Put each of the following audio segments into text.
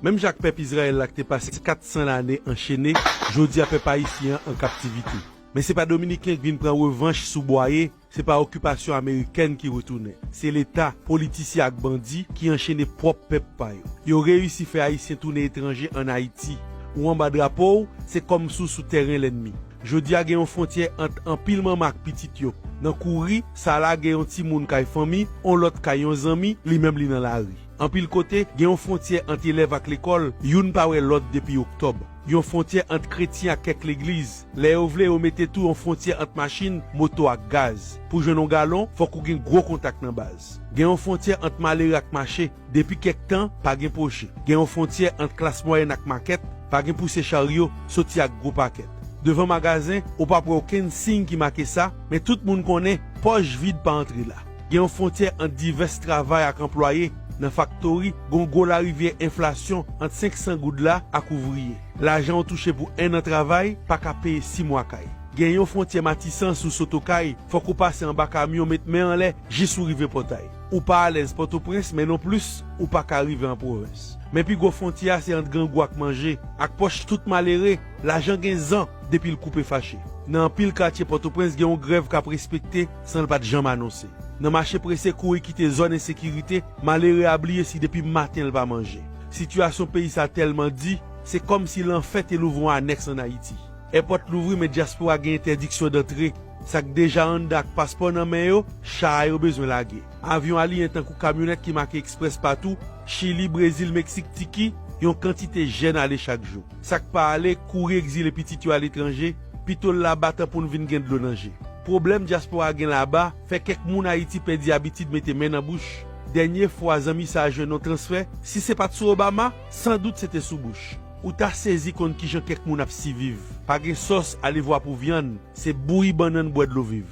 Menm jan ak pèp Izrayèl la ki te pase 400 lane anchene, jodi a pèp ayisyen an an kaptivite. Men se pa dominiken ki vin pran revanch sou Bwaye, se pa okipasyon amerikèn ki retounen. Se leta, politisyen ak bandi ki anchene pwòp pèp pa yo. Yo reyisi fè ayisyen tounen etranje an Ayiti. Ou anba drapo w, se kòm si w sou tèren lènmi. Jodi a gen yon fwontyè ant anpil manman ak pitit yo. Nan kouri, sa lage yon timoun kay fanmi, on lòt kay yon zanmi, li menm li nan lari. Anpil kote, gen yon fwontyè ant elèv ak lekòl, youn pa wè lòt depi oktòb. Gen yon fwontyè ant kretyen ak kèk legliz. Lè yo vle, yo mete tou yon fwontyè ant machin, moto ak gaz. Pou jwenn yon galon, fòk ou gen gwo kontak nan baz. Gen yon fwontyè ant malere ak mache. Depi kèk tan, pa gen poche. Gen yon fwontyè ant klas mwayèn ak makèt. Pa gen pouse charyo, soti ak gwo pakèt. Devan magazen, ou pap wè okenn siy ki make sa, men tout moun konnen, pòch vid pa antre la. Gen yon fwontyè ant divès travay ak anplwaye nan faktori, gen yon gwo larivyè enflasyon ant 500 goud la ak ouvriye. Lajan ou touche pou ennan travay pa ka peye si mwa kay. Gen yon fwontyè matisan si w sot Okay, fòk ou pase anba kamyon met men anlè jis ou rive Pòtay. Ou pa alèz Pòtoprens men nonplis ou pa ka rive an pwovens. Men pi gwo fwontyè a se ant grangou ak manje, ak pòch tout malere, lajan gen zan depi l koupe fache. Nan anpil katye Pòtoprens gen yon grèv k ap respekte san l pa t janm anonse. Nan mache prese kouri kite zòn ensekirite, malere a bliye si depi maten l pa manje. Sitiyasyon peyi sa tèlman di, se kòmsi lanfè te louvri yon anèks an Ayiti. Èpòt louvri men dyaspora gen entèdiksyon dantre. Sa k deja anndan ak paspò nan men yo, cha a yo bezwen lage. Avyon aliyen tankou kamyonèt ki make eksprès patou, Chili, Brezil, Meksik, Tiki, yon kantite jèn ale chak jou. Sa k pa ale, kouri egzile pitit yo aletranje. Pitol laba tan poun vin gen dlo nan je. Pwoblèm dyaspora gen laba fè kèk moun Ayiti pèdi abitid mete men nan bouch. Dènye fwa zanmi sa jwenn yon transfè, si se pat sou Obama, san dout se te sou Bush. Ou ta sezi konn kijan kèk moun ap siviv. Pa gen sòs, alevwa pou vyann, se bouyi bannann bwè dlo viv.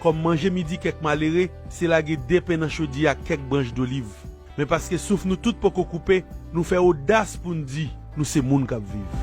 Kòm manje midi kèk malere se lage 2 pen nan chodyè ak kèk branch doliv. Men paske souf nou tout poko koupe, nou fè odas pou n di nou se moun k ap viv.